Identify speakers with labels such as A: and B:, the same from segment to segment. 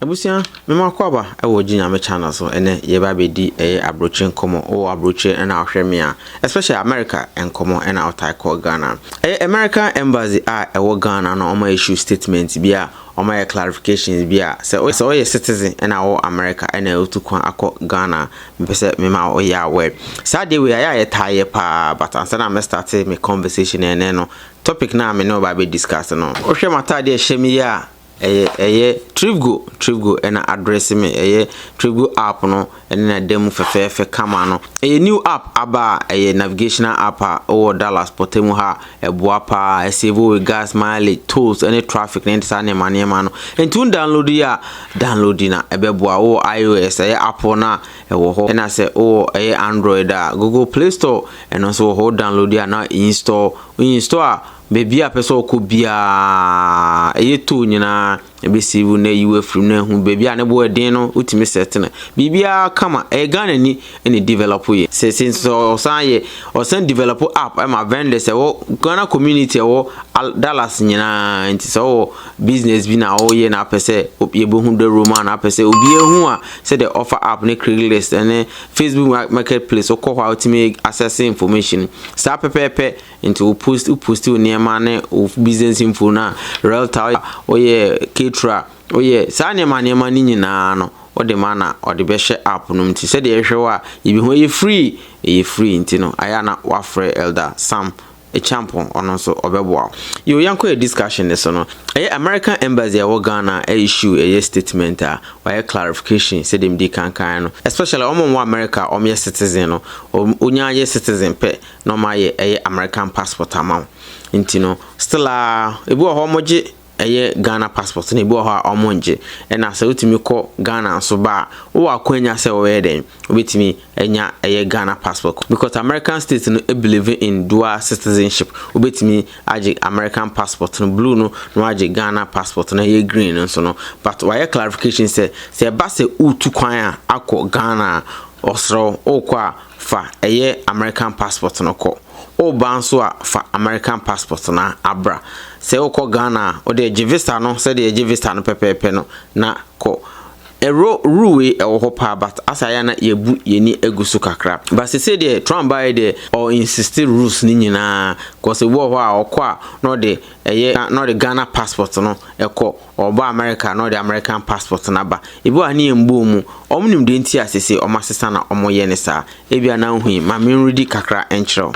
A: Abusua me
B: mo akɔ aba ɛwɔ gye nyame channel so ɛnɛ yɛba abɛdi ɛyɛ abrokyire nkɔmɔ ɔwɔ abrokyire ɛna ɔhwɛ me a especially America nkɔmɔ ɛna ɔtae kɔ Ghana ɛyɛ American embassy a ɛwɔ Ghana na ɔma issue statement bi a ɔma yɛ clarifications bi a sɛ sɛ ɔyɛ citizen ɛna ɔwɔ America ɛna ɔtu kwan akɔ Ghana mepɛ sɛ me ma ɔyɛ aware saa deɛ wei ayɛ a yɛtaa yɛ paa but ansa na mɛ starte me conversation ɛnɛ no topic na me ne ɔba abɛ discuss no wohwɛ m'atadeɛ ɛhyɛ me yi a Ɛyɛ ɛyɛ tripgo tripgo ɛna adrɛse me ɛyɛ tripgo app no ɛne na da mu fɛfɛɛfɛ kama no ɛyɛ new app aba a ɛyɛ navigational app a wɔ Dallas pɔtɛ mu ha ɛboa paa ɛsave wo gas mileage tolls ɛne traffic ne saa nneɛma nneɛma no nti wo download yi a download na ɛbɛboa wo wɔ iOS ɛyɛ Apple na ɛwɔ hɔ ɛna sɛ wɔ ɛyɛ Android a Google Play Store ɛno nso wɔ hɔ download a na install install a Baabi a ɔpɛ sɛ ɔkɔ biara, ɛyɛ tow nyinaa, ɛbɛsave wo na ayi wo afiri mu na ahu baabi a ne bo yɛ den no, wotumi set no. Biribiara kama, ɛyɛ Ghanani na ɛdevelop yɛ. Seesei nso sɛ ɔsan yɛ, ɔsan develop app ma vendors a ɛwɔ Ghana community a ɛwɔ Dallas nyinaa. Nti sɛ wowɔ business bi na woyɛ na apɛ sɛ yɛbɛhu the room a na apɛ sɛ obiara hu a, sɛdeɛ offer app ne Craigslist ne Facebook marketplace wokɔ hɔ a wotumi access information. Saa pɛpɛɛpɛ Nti wo post wo post wo nneɛma ne wo business info na realtor a ɔyɛ caterer ɔyɛ saa nneɛma nneɛma ne nyinaa no ɔde ma na ɔde bɛhyɛ app no nti sɛdeɛ ɛhwɛ wɔ a yɛbɛhu ɛyɛ free ɛyɛ free nti no ayɛ na wafrɛ elder sam Champon ɔno nso ɔbɛboa wo yo yɛnkɔ yɛ discussion ne so no ɛyɛ American embassy a ɛwɔ Ghana issue ɛyɛ statement a wɔayɛ clarification sɛdeɛ medi kankan no especially wɔn wɔn wɔ America wɔn yɛ citizen no wɔn yɛ citizen pɛ na ɔmo ayɛ ɛyɛ American passport ama wo nti no still aa ebi wɔ hɔ ɔmo gye ɛyɛ Ghana passport na ebi wɔ hɔ a ɔmo ngye ɛna sɛ wotumi kɔ Ghana nso ba a wowɔ akwanya sɛ wɔbɛyɛ dɛn wobɛtumi anya ɛyɛ Ghana passport because American state no believe in dual citizenship wobɛtumi agye American passport no blue no na wagye Ghana passport na ɛyɛ green no nso no but wayɛ clarification sɛ sɛ ɛba sɛ wotu kwan a akɔ Ghana a ɔsrɛ wo wokɔ a fa ɛyɛ American passport no kɔ. Woba nso a fa American passport no abra. Sɛ wokɔ Ghana a wode gye visa no sɛdeɛ yɛgye visa no pɛpɛɛpɛ no na kɔ. Ɛro rule wei ɛwɔ hɔ paa but asɛ ayɛ a na yɛabu yɛn ani agu so kakra. But seesei deɛ Trump baeɛ deɛ ɔ insist rules no nyinaa cause ebi wɔ hɔ a ɔkɔ a na ɔde ɛyɛ na ɔde Ghana passport no kɔ. Ɔba America na ɔde American passport no aba. Ebi wɔ ha ne yɛn mbɔɔ mu. Ɔmo nim deɛ nti a sesei ɔmo asesa na ɔmo yɛ ne saa. Ebia na nhu yi, ma me nredi kakra nkyerɛ wo.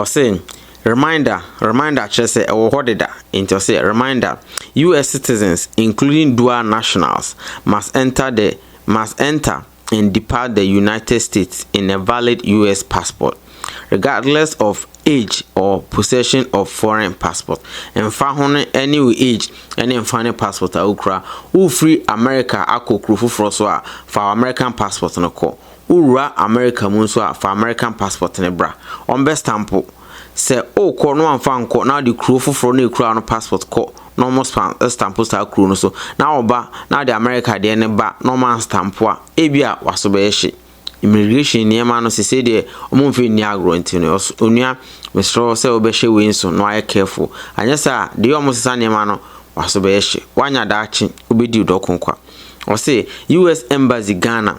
B: Ɔse, Reminder, reminder kyerɛ sɛ ɛwɔ hɔ deda. Enti ɔse, Reminder, US citizens, including dual nationals, must enter the, must enter, and depart the United States in a valid US passport, regardless of age or possession of foreign passport. Ɛmfa ho no ɛne wo age ɛne mfa ne passport a wokura. Wofiri America akɔ kuro foforɔ so a, fa American passport no kɔ. Wowura America mu nso a, fa American passport no bra. Wɔbɛstampo Sɛ wokɔ na wamfa ankɔ na wode kuro foforɔ na ekura wo no passport kɔ na wɔn span stampo saa kuro no so na woba na wode America deɛ no ba na wɔn anstampo a, ebi a waso bɛyɛ hye. Immigration nneɛma no sesei deɛ wɔn mfɛ nni agorɔ nti no ɔs onua mesrɛ wo sɛ wobɛhyɛ wei nso na wayɛ careful anyɛ saa a deɛ wɔn sesa nneɛma no waso bɛyɛ hye. Woanya daakye wobɛdi wo dɔko kwa. Ɔse US embassy Ghana.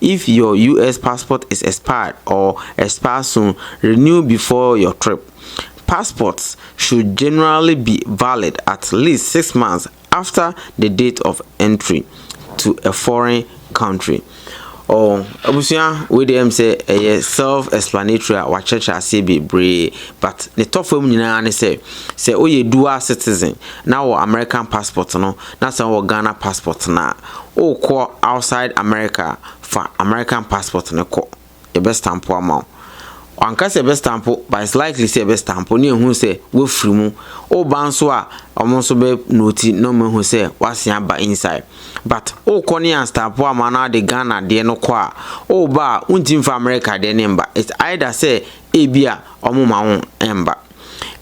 B: If your US passport is expired or expires soon, renew before your trip. Passports should generally be valid at least six months after the date of entry to a foreign country. Oh, abusua wei deɛ ɛm sɛ ɛyɛ self explanatory a wakyerɛkyerɛ aseɛ bebree but ne tɔfam nyinaa ne sɛ sɛ woyɛ dual citizen na wɔ American passport no na sɛ wɔ Ghana passport no a Wokɔ outside America a, fa American passport no kɔ, yɛbɛ stamp wo ama wo. Wanka sɛ yɛbɛ stamp wo, but it's likely sɛ yɛbɛ stamp wo na yɛahu sɛ woafiri mu. Woba nso a, wɔn nso bɛ note na wɔahu sɛ woasan aba inside. But wokɔ na yɛanstamp wo amma na wode Ghana deɛ no kɔ a, woba a, wontumi mfa America deɛ no mba. It's either sɛ ebia wɔmma wo mba.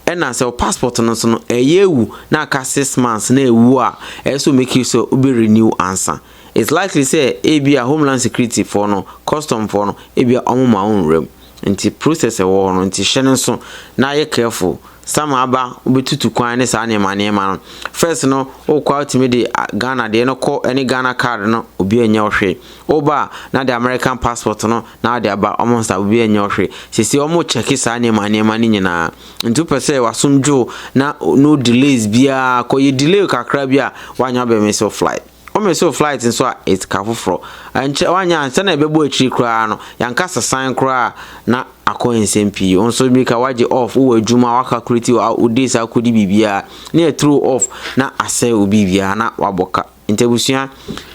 B: Ɛna sɛ wo passport no nso no ɛyɛ awu na aka six months na ɛwu a ɛyɛ sɛ make sure sɛ wobɛ renew ansa. It's likely sɛ ebi a homeland security foɔ no, custom foɔ no ebi a wɔn ma wo nwura mu. Nti process ɛwɔ hɔ no nti hyɛ no nso na yɛ careful. Summer aba wobɛtutu kwan ne saa nneɛma nneɛma no. First no wokɔ a wotumi de Ghana deɛ no kɔ ɛne Ghana card no obi anyɛ wo hwee. Wo ba a na de American passport no na ɔde aba wɔn nsa obi ɛnyɛ wo hwee. Sɛsei wɔn rekyɛke saa nneɛma nneɛma no nyinaa. Nti wopɛ sɛ w'asom dwo na no delays biara kɔ yɛ delay kakra bi a woanyɛ abɛ miss wo flight. Wo miss wo flight nso a it's ka foforɔ. Ɛnkyɛ woanyɛ ansa na ɛbɛbɔ akyiri koraa no yɛanka sesan koraa a na akɔ yɛ nsam pii. Wo nso mmirika woagye off wowɔ adwuma wo calculate wo days akɔdi biribiara na yɛ throw off na asɛe wo biribiara na wabɔ ka. Nti abusua,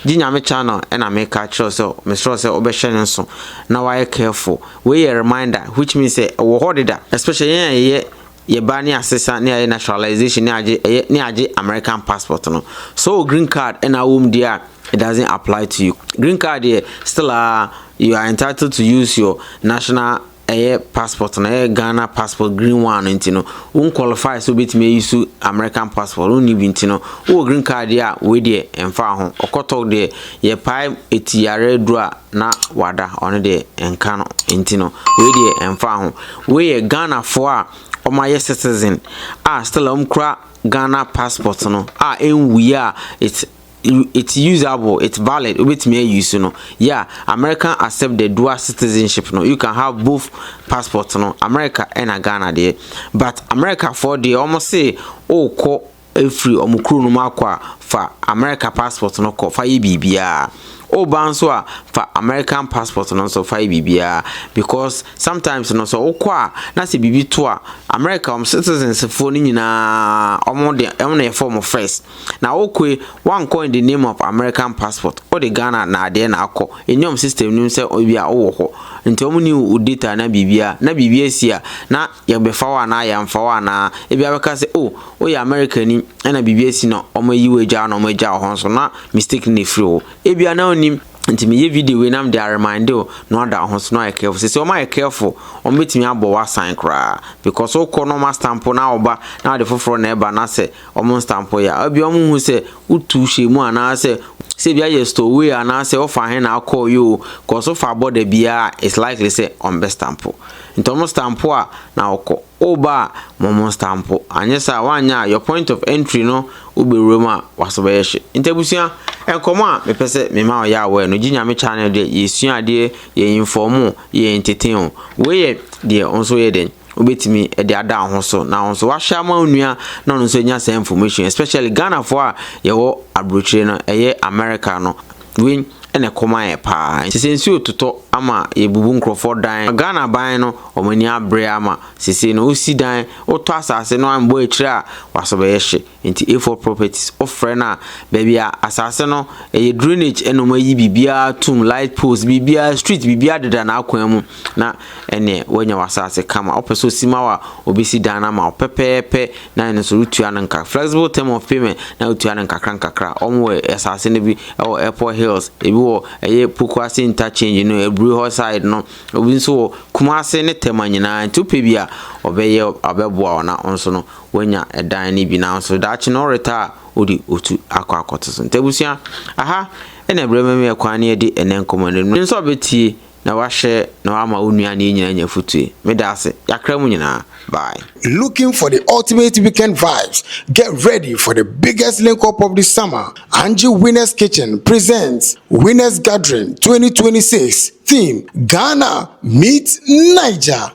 B: gye Nyame channel na meka kyerɛ wo sɛ mesrɛ wo sɛ wobɛhwɛ no nso na wayɛ careful. Wei yɛ reminder which means sɛ ɛwɔ hɔ deda especially yɛn a yɛyɛ yɛba ne asesa ne ayɛ naturalization ne agye ɛyɛ ne agye American passport no. Sɛ ɔwɔ green card na awɔ mu deɛ a it doesn't apply to you. Green card deɛ still a you are entitled to use your national ɛyɛ passport no ɛyɛ Ghana passport green one no nti no wo nkwalify sɛ wobɛtumi ayi so American passport wonni bi nti no wowɔ green card deɛ a wei deɛ ɛmfa ho ɔkɔtɔk deɛ yɛpae ɛti yare aduru a na wada ɔno deɛ ɛnka no nti no wei deɛ ɛmfa ho wei yɛ Ghanafoɔ a wɔayɛ citizen a still a wɔkura Ghana passport no a ɛnwuiɛ a it's it's usable it's valid wobɛtumi ayi so no yeah american accept the dual citizenship no you can have both passport no america ɛna ghana deɛ but america foɔ deɛ wɔn se wokɔ efiri wɔn kuro no mu akɔ a fa america passport no kɔ fa yɛ biribiara woba nso a fa american passport no nso fa yɛ biribiara because sometimes no sɛ wokɔ a na sɛ biribi to a america wɔn citizens foɔ no nyinaa wɔn de wɔn na yɛ fɔm first. Na wo koe woankɔ in the name of American passport wode Ghana naadeɛ na akɔ ɛni wɔn system no mu sɛ ebi a wowɔ hɔ nti wɔn ni wo data na biribia na biribi asi a na yɛbɛfa wo anaa yɛamfa wo anaa ebi abɛka sɛ oh woyɛ America ni ɛna biribi asi na wɔn ayi wo agya na wɔn agya wo hɔ nso na mistake no na ɛfiri wo ebi a na wonim Nti meyɛ video wei na mede a reminde wo na wada wo ho so na wayɛ careful. Sɛsɛ wɔn ayɛ careful, wɔn bɛtumi abɔ wo asan koraa because wokɔ na wɔn astampo na woba na wode foforɔ na ɛba na sɛ wɔn nstampo yɛ a, ebia wɔn hu sɛ wotu hyɛ mu anaasɛ sɛ ebi ayɛ stowaway anaasɛ wofa he na akɔɔ yi o, because wofa bɔ da biara it's likely sɛ wɔn bɛ stampo. Nti wɔn stampo a na wokɔ. Woba a, ma ɔmo nstampo. Anyɛ saa a, woanyɛ a, your point of entry no wobɛwura mu a, w'aso bɛyɛ hye. Nti abusua, nkɔmmɔ a mepɛ sɛ me ma ɔyɛ aware no, Gye Nyame channel deɛ, yɛsua adeɛ, yɛ inform o, yɛ entertain o. Wei yɛ deɛ wo nso woyɛ dɛn, wobɛtumi de ada wo ho so, na wo nso w'ashare ama wo nua na ɔno nso anya saa information yi, especially Ghanafoɔ a yɛwɔ aburokyire no, ɛyɛ America no. Wei na ɛkɔm ayɛ paa nti sɛ nsuo totɔ ama yɛbubu nkurɔfoɔ dan. Ghana ban no wɔn ani abere ama sesei no wosi dan, wotɔ asase no ammɔ akyire a wasɔ bɛyɛ hye. Nti A4 properties wofrɛ no a baabi a asase no ɛyɛ drainage ɛna wɔayi biribiara atom, light poles, biribiara, street biribiara deda n'akwan mu. na ɛneɛ woanya w'asaase kama. Wopɛ sɛ ɔsi ma wo a, ɔbɛsi dan no ama wo pɛpɛɛpɛ na ɛno nso wotua no nkakra. Flexible term of payment na wotua no nkakra nkakra. Wɔn wɔ asaase no bi wɔ Airport Hills, ebi wɔ ɛyɛ Pokuase interchange no, Aburi hɔ side no, obi nso wɔ Kumase ne Tema nyinaa. Nti wopɛ bi a, ɔbɛyɛ ɔbɛboa wo na wo nso no woanya ɛdan no bi na nso daakye no ɔreta a wode otu akɔ akɔto so. Nti abusua, aha ɛna ɛbrɛ mɛmɛ kwan ne yɛde ɛnɛ nkɔmmɔ no. Nso ɔbɛtie na w'ahyɛ na w'ama wo nua ne yɛ nyinaa anya fotue. Me da ase. Y'akra mu nyinaa. Bye. Looking for the
C: ultimate weekend vibes? Get ready for the biggest link up of the summer, Angie Winners Kitchen presents Winners Gathering twenty twenty six, theme, Ghana meets Niger.